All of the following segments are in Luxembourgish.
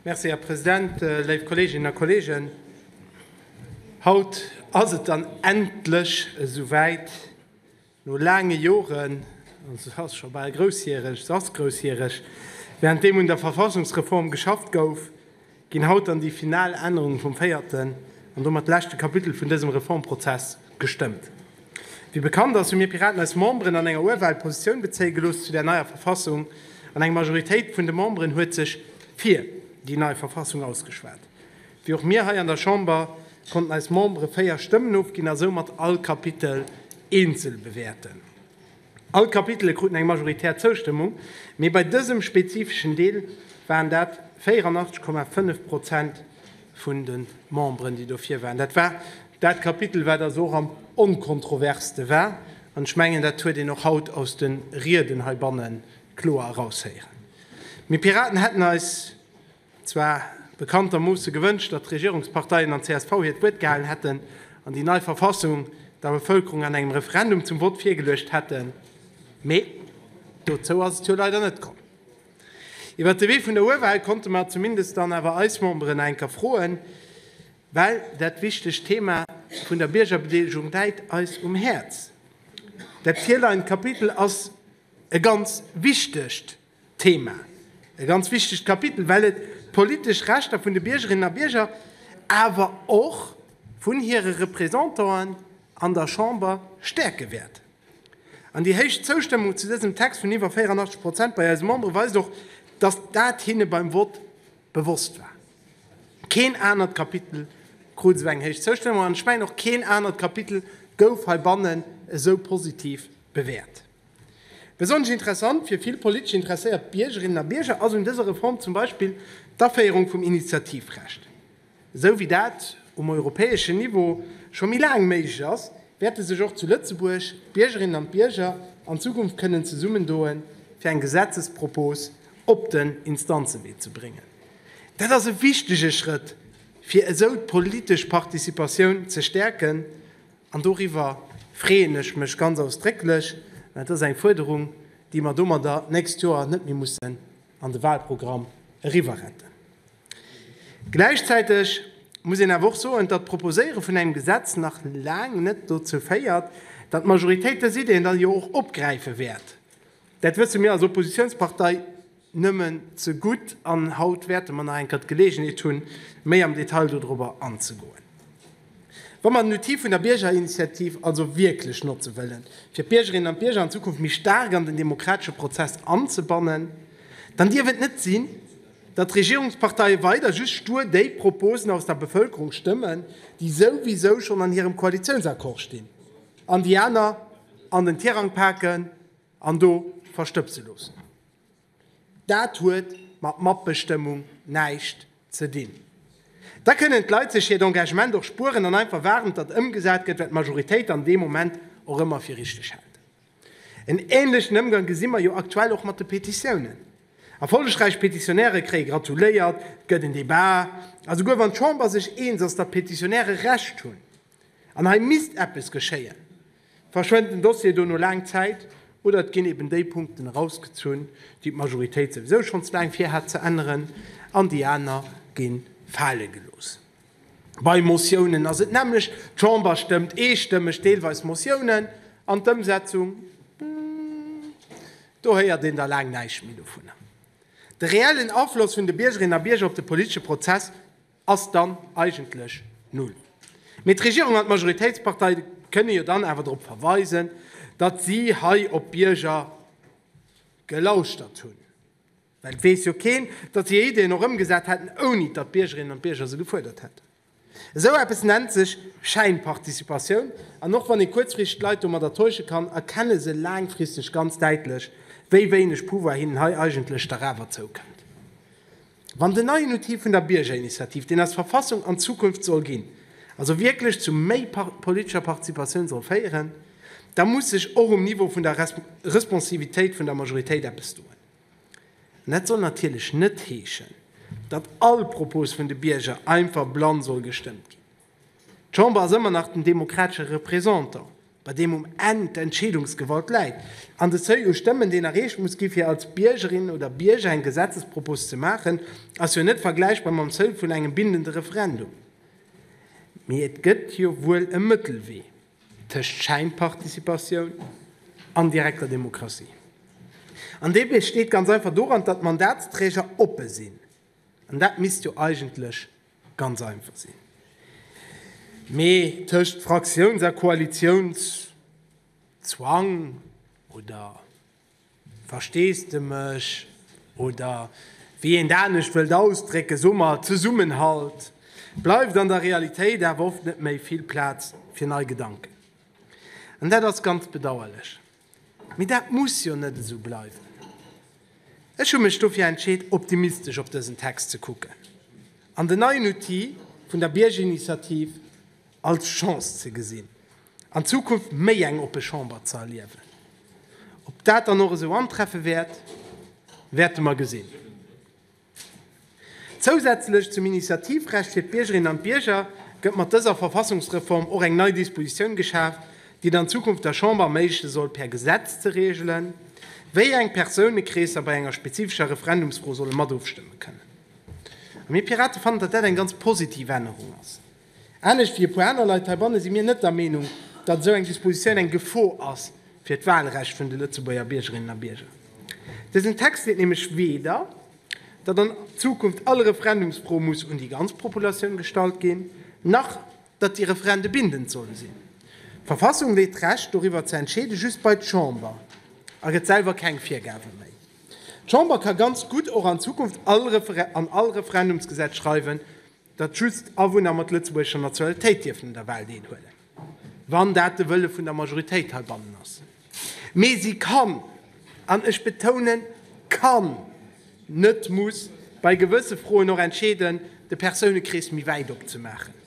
Merci, Här President. Léif Kolleeginnen a Kolleegen, haut ass et dann endlech esou wäit. No laange Joren, an se ass scho bal groussjäreg, se ass groussjäreg, während deem un der Verfassungsreform geschafft gouf, ginn haut dann déi final Ännerungen vum véierten an domat leschte Kapitel vun dësem Reformprozess gestëmmt. Wéi bekannt ass, hu mir Piraten eis Memberen an enger Urwahl Positioun bezéie gelooss zu där neier Verfassung an eng Majoritéit vun de Memberen huet sech fir déi nei Verfassung ausgeschwat. Wéi och mir hei an der Chamber konnten eis Membere véier Stëmmen ofginn a soumat all Kapitel eenzel bewäerten. All d'Kapitele kruten eng majoritär Zoustëmmung, mee bei dësem spezifeschen Deel waren dat 84,5 Prozent vun de Memberen, déi dofir waren. Dat war dat Kapitel, wat also och am onkontroverste war, an ech mengen, dat huet een och haut aus de Rieden heibanne kloer eraushéieren. Mir Piraten hätten eis Zwar bekanntermoosse gewënscht, datt d'Regierungsparteien an csv hiert Wuert gehalen hätten an déi nei Verfassung der Bevëlkerung an engem Referendum zum Vott virgeluecht hätten, mee dozou ass et jo leider net komm. Iwwert de Wee vun der Urwahl konnte mer zumindest dann awer eis Memberen nach eng Kéier froen, well dat wichtegt Thema vun der Biergerbedeelegung läit eis um Häerz. Dat virleient Kapitel ass e ganz wichtegt Thema. E ganz wichtegt Kapitel, well et d'politesch Rechter vun de Biergerinnen a Bierger, awer och vun hire Représentanten an der Chamber stäerke wäert. An déi héich Zoustëmmung zu dësem Text vun iwwer 84 Prozent bei eise Membere weist och, dass dat hinne beim Vott bewosst war. Keen anert Kapitel krut esou eng héich Zoustëmmung an ech mengen och keen anert Kapitel gouf heibannen esou positiv bewäert. Besonnesch interessant fir vill politesch interesséiert Biergerinnen a Bierger ass un dëser Reform zum Beispill d'Aféierung vum Initiativrecht. Esou wéi dat um europäeschen Niveau scho méi laang méiglech ass, wäerte sech och zu Lëtzebuerg d'Biergerinnen an d'Bierger an Zukunft kënnen zesummendoen, fir eng Gesetzespropos op den Instanzewee ze bréngen. Dat ass e wichtege Schrëtt, fir esou d'politesch Participatioun ze stäerken. An doriwwer freeën ech mech ganz ausdrécklech, well dat ass eng Fuerderung, déi mer domadder d'nächst Joer net méi mussen an de Wahlprogramm eriwwerretten. Gläichzäiteg muss een awer och soen, datt d'Proposéiere vun engem Gesetz nach laang net dozou féiert, datt d'Majoritéit dës Ideen da jo och opgräife wäert. Dat wësse mir als Oppositionspartei Nëmmen ze gutt an haut wäerte mer nach eng Kéier d'Geleegenheet hunn, méi am Detail dodrober anzegoen. Wa mer den Outil vun der Biergerinitiativ also wierklech notze wëllen, fir d'Biergerinnen an d'Bierger an Zukunft méi staark an den demokratesche Prozess anzebannen, dann dierf et net sinn, datt d'Regierungsparteie weider just stur déi Proposen aus der Bevëlkerung stëmmen, déi souwisou schonn an hirem Koalitiounsaccord stinn, an déi aner an den Tirang paken. An do verstëbse loossen. Dat huet mat Matbestëmmung näischt ze dinn. Da kënnen d'Leit sech hiert Engagement och spueren an einfach waarden, datt ëmgesat gëtt, wat d'Majoritéit dann dee Moment och ëmmer fir richteg hält. En änlechen Ëmgang gesi mer jo aktuell och mat de Petitiounen. Erfollegräich Petitionäre kréie gratuléiert, et gëtt en Debat. A souguer wann d'Chamber sech eens ass, datt d'Petitionäre Recht hunn, An hei misst eppes geschéien. Verschwent den Dossier do no laang Zäit oder et ginn eben déi Punkten erausgezunn, déi d'Majoritéit souwisou schonn ze laang vir hat ze änneren, an déi aner gi fale gelooss. Bei Motiounen ass et nämmlecht, d'Chamber stëmmt eestëmmeg deelweis Motiounen an, d'Ëmsetzung, do héiert een da laang näischt méi dovunner. De reellen Afloss vun de Biergerinnen a Bierger op de politesche Prozess. ass dann eigentlech null. Mee d'Regierung an d'Majoritéitspartei kënne jo dann awer drop verweisen, datt si hei op d'Bierger gelauschtert hunn. Well et weess jo keen, datt si hir Ideeën och ëmgesat hätten, ouni datt d'Biergerinnen an d'Bierger se gefuerdert hätten. Esou eppes nennt sech Schäinparticipatioun. An och wann ee kuerzfristeg d'Leit domadder täusche kann, erkenne se laangfristeg ganz däitlech, wéi wéineg Pouvoir hinnen hei eigentlech dach awer zoukënnt. Wann den neien Outil vun der Biergerinitiativ, deen eis Verfassung an d'Zukunft soll ginn, also wierklech zu méi politescher Participatioun soll féieren, da muss sech och um Niveau vun der Responsivitéit vun der Majoritéit eppes doen. An dat soll natierlech net heeschen, datt all Propos vun de Bierger einfach blann soll gestëmmt ginn. D'Chamber ass ëmmer nach den demokratesche Representant, bei deem um Enn d'Entscheedungsgewalt läit, an de Seuil u Stëmmen, deen erreecht muss ginn, fir als Biergerin oder Bierger eng Gesetzespropos ze maachen, ass jo net vergläichbar mam Seuil vun engem bindende Referendum. Mee et gëtt jo wuel e Mëttelwee tëscht Schäinparticipatioun an direkter Demokratie. An dee besteet ganz einfach doran, datt d'Mandatsträger oppe sinn. An dat misst jo eigentlech ganz einfach sinn. Mee tëscht Fraktiouns a Koalitionszwang oder Versteesdemech oder wéi een et anescht wëllt ausdrécken, soe mer Zesummenhalt, bleift an der Realitéit awer oft net méi vill Plaz fir nei Gedanken. An dat ass ganz bedauerlech. Mee dat muss jo net esou bleiwen. Ech hu mech dofir entscheet, optimistesch op dësen Text ze kucken an den neien Outil vun der Biergerinitiativ als Chance ze gesinn, an Zukunft méi eng oppe Chamber ze erliewen. Ob dat dann och esou antreffe wäert, wäerte mer gesinn. Zousätzlech zum Initiativrecht fir d'Biergerinnen an d'Bierger gëtt mat dëser Verfassungsreform och eng nei Dispositioun geschaf, déi et an Zukunft der Chamber erméigleche soll per Gesetz ze reegelen, wéi eng Persounekreesser bei enger spezifescher Referendumsfro solle mat ofstëmme kënnen. A mir Pirate fannen, datt dat eng ganz positiv Ännerung ass. Anescht wéi e puer aner Leit heibanne si mir net der Meenung, datt esou eng Dispositioun eng Gefor ass fir d'Wahlrecht vun de Lëtzebuerger Biergerinnen a Bierger. Dësen Text seet nämlech weder, datt an Zukunft all Referendumsfro muss un déi ganz Populatioun gestallt ginn, nach datt déi Referende bindend solle sinn. D'Verfassung leet d'Recht, doriwwer ze entscheeden, just bei d'Chamber a gëtt selwer keng Virgabe méi. D'Chamber ka ganz gutt och an Zukunft an all Referendumsgesetz schreiwen, datt just Awunner mat lëtzebuergescher Nationalitéit dierfen un der Wahl deelhuelen, wann dat de Wëlle vun der Majoritéit heibannen ass. Mee si kann, an ech betounen kann, net muss, bei gewësse Froen och entscheeden, de Persounekrees méi wäit opzemaachen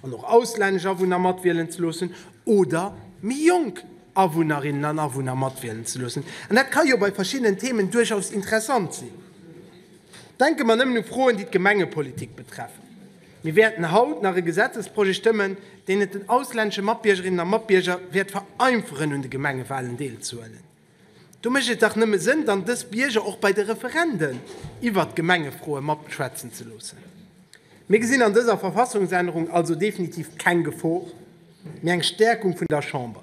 an och auslännesch Awunner matwielen ze loossen oder méi jonk Awunnerinnen an Awunner matwielen ze loossen. An dat ka jo bei verschiddenen Themen duerchaus interessant sinn. Denke mer nëmmen u Froen, déi d'Gemengepolitik betreffen. Mir wäerten haut nach e Gesetzesprojet stëmmen, deen et den auslännesche Matbiergerinnen a Matbierger wäert vereinferen, un de Gemengewalen deelzehuelen. Do mécht et dach nëmme Sënn, dann dës Bierger och bei de Referenden iwwert Gemengefroe matschwätzen ze loossen. Mir gesinn an dëser Verfassungsännerung also definitiv keng Gefor, mee eng Stäerkung vun der Chamber,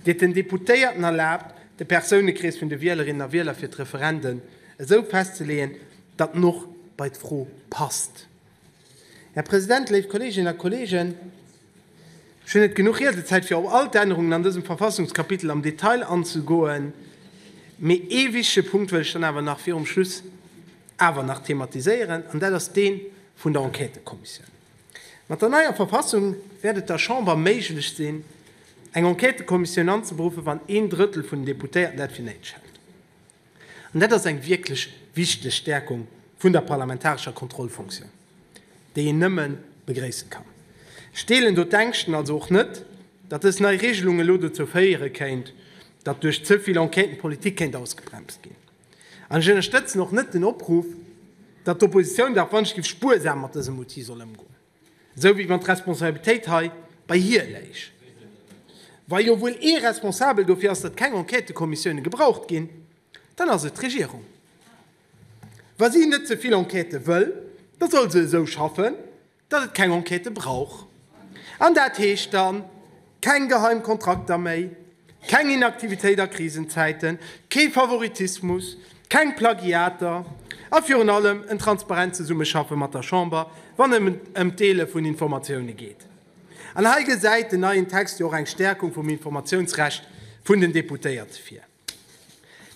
déi et den Deputéierten erlaabt, de Persounekrees vun de Wielerinnen a Wieler fir d'Referenden, esou festzeleeën, datt en och bei d'Fro passt. Här President, léif Kolleeginnen a Kolleegen, ech hunn net genuch Riedezäit, fir op all d'Ännerungen an dësem Verfassungskapitel am Detail anzegoen, mee ee wichtige Punkt wëll ech dann awer nach virum Schluss awer nach thematiséieren, an dat ass dee vun der Enquêtekommissioun. Mat der neier Verfassung wäert et der Chamber méiglech sinn, eng Enquêtekommissioun anzeberuffen, wann een Drëttel vun den Deputéierten dat fir néideg hält. An dat ass eng wierklech wichteg Stäerkung vun der parlamentarescher Kontrollfonktioun, déi een nëmme begréissen kann. Ech deelen do d'Ängschten also och net, datt dës nei Regelung elo dozou féiere kéint, datt duerch ze vill Enquêten d'Politik kéint ausgebremst ginn. An ech ënnerstëtzen och net den Opruff, datt d'Oppositioun da wann ech giff spuersam mat dësem Outil soll ëmgoen. Esou wéi wann d'Responsabilitéit hei bei hir léich. Wa jo wuel ee responsabel dofir ass, datt keng Enquêtëkommissioune gebraucht ginn, dann ass et d'Regierung. Wa si net ze vill Enquêtë wëll, da soll se esou schaffen, datt et keng Enquêtë brauch. An dat heescht dann, Keng geheim Kontrakter méi, keng Inaktivitéit a Krisenzäiten, kee Favoritismus, keng Plagiater a virun allem en transparent Zesummeschaffe mat der Chamber, wann et ëm d'Deele vun Informatioune geet. An hei gesäit den neien Text jo och eng Stäerkung vum Informatiounsrecht vun den Deputéierte vir.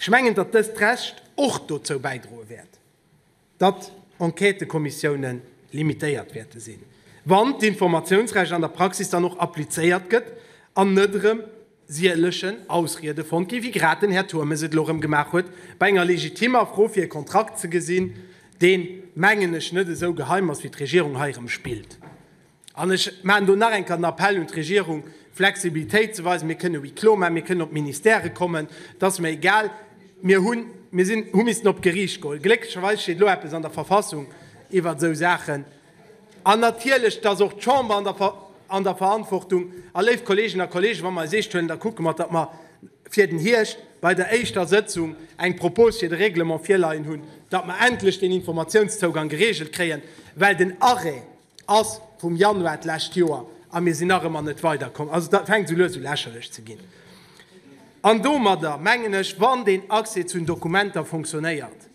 Ech mengen, datt dëst Recht och dozou bäidroe wäert, datt Enquêtëkommissiounen limitéiert wäerte sinn, wann d'Informatiounsrecht an der Praxis dann och applizéiert gëtt an net erëm sielechen Ausriede fonnt ginn, wéi grad den Här Turmes et elo erëm gemaach huet, bei enger legitimmer Fro fir e Kontrakt ze gesinn, deen, mengen ech, net esou geheim ass, wéi d'Regierung hei erëm spillt. An ech maachen do nach eng Kéier den Appell un d'Regierung, Flexibilitéit ze weisen. Mir kënnen Huis clos maachen, mir kënnen op d'Ministèrë kommen, et ass mir egal. Mir hu missten op d'Geriicht goen. Glécklecherweis steet elo eppes an der Verfassung iwwer esou Saachen. An natierlech, et ass och d'Chamber an der Verantwortung. A léif Kolleegen a Kollegen, wa mer eis eescht huelen, da kucke mer, datt mer fir den Hierscht bei der éischter Sëtzung eng Propose fir de Règlement virleien hunn, datt mer endlech deen Informatiounszougang gereegelt kréien, well den Arrêt, ass vum Januar d'lescht Joer a mir sinn nach ëmmer net weiderkomm. Also dat fänkt esou lues u lächerlech ze ginn. An domadder mengen ech, wann deen Accès zu den Dokumenter fonctionnéiert,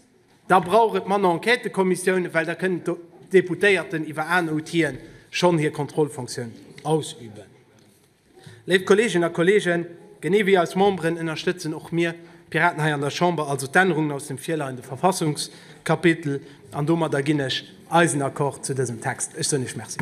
da brauch et manner Enquêtëkommissiounen, well da kënnen d'Deputéierten iwwer aner Outile schonn hir Kontrollfonctioun ausüben. Léif Kolleeginnen a Kolleegen, genee wéi eis Memberen ënnerstëtzen och mir Piraten hei an der Chamber also d'Ännerungen aus dem virleiende Verfassungskapitel. An domadder ginn ech eisen Accord zu dësem Text. Ech soen Iech Merci.